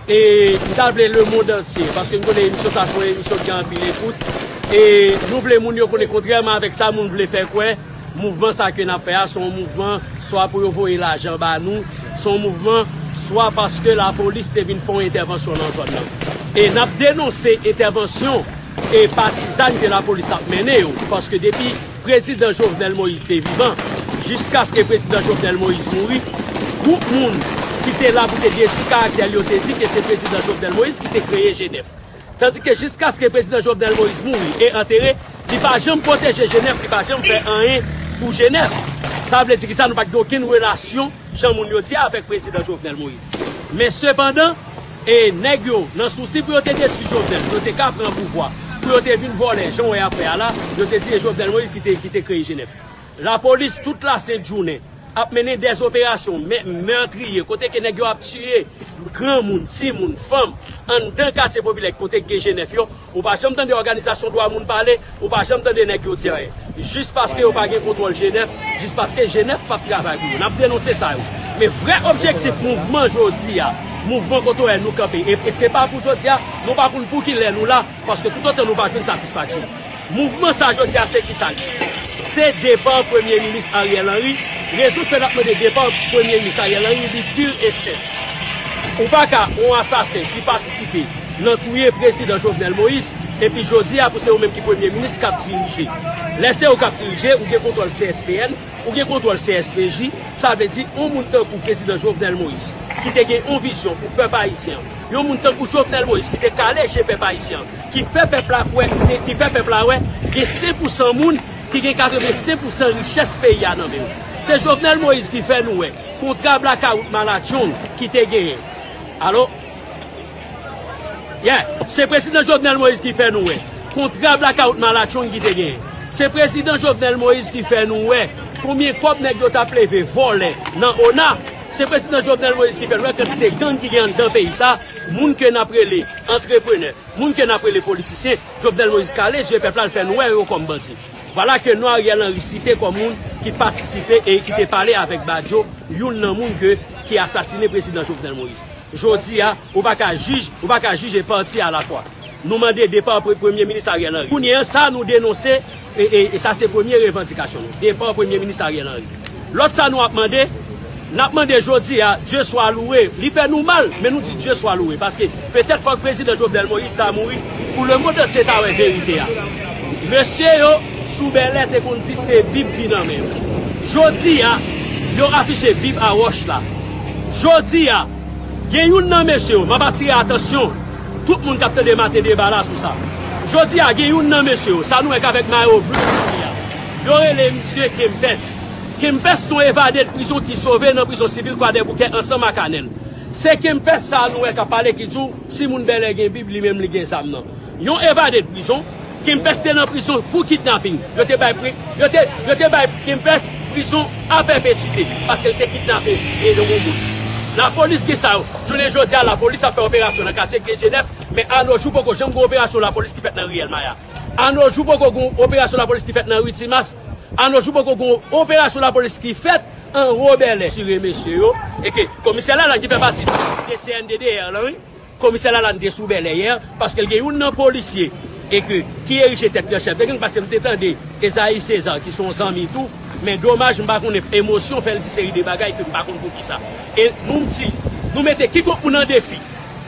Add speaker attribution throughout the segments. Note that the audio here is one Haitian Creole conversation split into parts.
Speaker 1: M ta vle le mond antye, paske m konnen emisyon sa se yon emisyon ki gen anpil ekout, e nou vle moun yo konnen kontrèman avèk sa moun vle fè kwè, mouvman sa ke n ap fè a se yon mouvman swa pou yo voye lajan ba nou, se yon mouvman swa paske lapolis te vin fè yon entèvansyon nan zòn nan. E n ap denonse entèvansyon e patizan ke lapolis ap mennen yo, paske depi. Prezidan Jovenel Moïse te vivan, jiskaske Prezidan Jovenel Moïse mouri, gwoup moun ki te la pou te detwi karaktè l yo te di ke se Prezidan Jovenel Moïse ki te kreye Jenèf. Tandike jiskaske Prezidan Jovenel Moïse mouri e antere, li pa janm pwoteje Jenèf, li pa janm fè anyen pou Jenèf. Sa vle di kisa? Nou pa t gen okenn relasyon, jan moun yo di a, avèk Prezidan Jovenel Moïse. Men sepandan. E nèg yo, nan sousi pou yo te detwi Jovenel, pou yo te ka pran pouvwa, pou yo te vin vòlè, jan w wè y ap fè a la, yo te di e Jovenel Moïse ki te ki te kreye Jenèf. Lapolis tout lasent jounen ap mennen dèz operasyon mè mètriye kote ke nèg yo ap tiye granmoun, timoun, fanm anndan katye popilè kote gen Jenèf yo. Ou pa janm tande òganizasyon dwa moun pale, ou pa janm tande nèg yo di anyen. Jis paske yo pa gen kontwòl Jenèf, jis paske Jenèf pap travay pou yo. Nap denonse sa yo. Men vrè objektif mouvman jodi a, mouvman kote ou wè nou kanpe, e se pa pou jodi a, nou pa konn pou ki lè nou la, paske toutotan nou pa jwenn satisfaksyon. Mouvman sa jodi a se ki sa l ye? Se depa Premye Minis Ariel Henry. Rezon ki fè nap mande depa Premye Minis Ariel Henry li pur e senp. Ou pa ka yon asasen ki patisipe. nan touye prezidan Jovenel Moïse epi jodi a pou se ou menm ki premye minis kap dirije lè se ou kap dirije ou gen kontwòl CSPN ou gen kontwòl CSPJ sa vle di yon moun tankou prezidan Jovenel Moïse ki te gen yon vizyon pou pèp ayisyen an yon moun tankou Jovenel Moïse ki te kale je pèp ayisyen an ki fè pèp la kwè ki fè pèp la wè gen 5 pou 100 moun ki gen 85 pou 100 richès peyi a nan men l se Jovenel Moïse ki fè nou wè kontra blakawout malatchong ki te genyen alò. Yeah! Se Prezidan Jovenel Moïse ki fè nou wè kontra blackout malatchong ki te genyen. Se Prezidan Jovenel Moïse ki fè nou wè konbyen kòb nèg yo tap leve vòlè nan ona. Se Prezidan Jovenel Moïse ki fè nou wè kantite gang ki gen anndan peyi sa a. Moun ke nap rele antreprenè, moun ke nap rele politisyen, Jovenel Moïse kale zye pèp la l fè nou wè yo kòm bandi. Vwala ke non Ariel Henry site kòm moun ki patisipe e ki te pale avèk Badio, youn nan moun ke ki asasine Prezidan Jovenel Moïse. Jodi a, ou pa ka jij, ou pa ka jije pati a la fwa. Nou mande depa Premye Minis Ariel Henry. Kounye an, sa nou denonse, e sa se premye revandikasyon nou, depa Premye Minis Ariel Henry. Lòt sa nou ap mande, n ap mande jodi a, Dye swa louwe, li fè nou mal, men nou di Dye swa louwe, paske petèt fòk Prezidan Jovenel Moïse ta mouri, pou lemonn antye ta wè verite a. Mesye yo. sou Bèlè te konn di se Bib ki nan men yo. Jodi a, yo afiche Bib a wòch la. Jodi a, gen youn nan mesye yo, m ap atire atansyon tout moun k ap tande maten deba la sou sa. Jodi a, gen youn nan mesye yo, sa nou wè k avèk mayo ble sou li a, yo rele misye Kempès. Kempès se yon evade de prizon ki sove nan prizon sivil Kwadèboukè ansanm ak Anèl. Se Kempès sa a nou wè k ap pale ki di w si moun Bèlè gen Bib li menm li gen zam nan. Yon evade de prizon. Kempès te nan prizon pou kidnaping. Yo te bay Yo te bay Kempès prizon a pèpetite paske l te kidnape yon moun. Lapolis gen sa yo. Jounen jodi a lapolis ap fè operasyon nan katye Gdejenèf men anojou poko janm gen operasyon lapolis ki fèt nan Riyèl Maya. Anojou poko gen operasyon lapolis ki fèt nan Ri Timas. Anojou poko gen operasyon lapolis ki fèt anwo Bèlè. Sire mesye yo e ke komisè Lalane ki fè pati de cnddr lan wi. Komisè Lalane te sou Bèlè yè paske l gen youn nan polisye e ke ki erije tèt li an chèf de gang paske m te tande Esaïe César ki son zanmi tou men domaj m pa konnen emosyon fè l di seri de bagay ke m pa konn poukisa e nou m di nou mete kikon moun an defi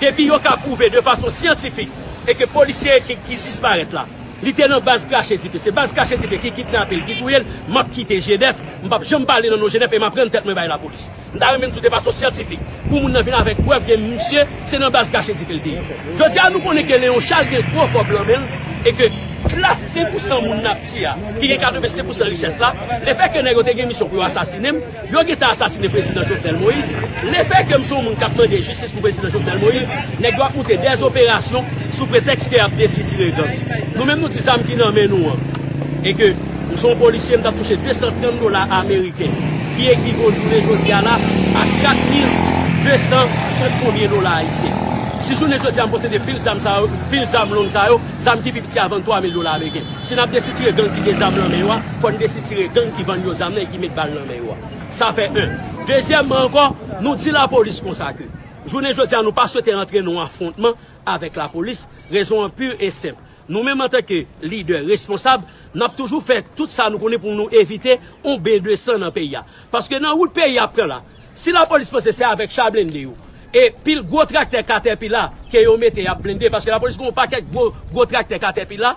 Speaker 1: depi yo ka pwouve de fason syantifik e ke polisye ki ki disparèt la li te nan baz krache dife se baz krache dife ki kidnape l ki touye l m ap kite Genève m p ap janm pale nan non Genève e m ap rann tèt mwen bay lapolis. M ta renmen m di w de fason syantifik pou moun nan vin avèk prèv ke misye se nan baz kache dife l te ye. Jodi a nou konnen ke Leon Charles gen gwo kòb lan men l e ke klas 5 pou san moun n ap di a ki gen 85 pou san richès la, lefèke nèg yo te gen misyon pou yo asasine m, yo gentan asasine Prezidan Jovenel Moïse. Lefèke m se yon moun k ap mande jistis pou Prezidan Jovenel Moïse, nèg yo ap moute dè operasyon sou pretèks ke y ap desitire gang. Nou menm nou di zam ki nan men nou an e ke. M se yon polisye, m t ap touche 230 dola ameriken, ki ekivo jounen jodi a la a 4230 konbyen dola ayisyen. Si jounen jodi a m posede pil zam sa yo, pil zam long sa yo, zam ki pi piti a vann 3000 dola ameriken. Si n ap desitire gang ki gen zam nan men yo a, fò n desitire gang ki vann yo zam nan e ki met bal nan men yo a. Sa fè 1. Dezyèmman ankò, nou di lapolis konsa ke jounen jodi a nou pa swete antre nan yon afwontman avèk lapolis, rezon an pur e senp. Nou menm antan ke lidè responsab, n ap toujou fè tout sa nou konnen pou nou evite yon ben de san nan peyi a. Paske nan wout peyi a ap pran la, si lapolis panse se avèk cha blende yo e pil gwo traktè katèpila ke yo mete y ap blende, paske lapolis gen yon pakèt gwo gwo traktè katèpila,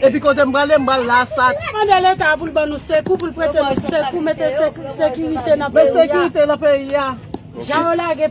Speaker 2: Epi kote m prale m pral la sa. Nap mande leta a poul ban nou sekou poul prete nou sekou mete sekirite nan peyi a. Mete sekirite nan peyi a. Jan yo lage.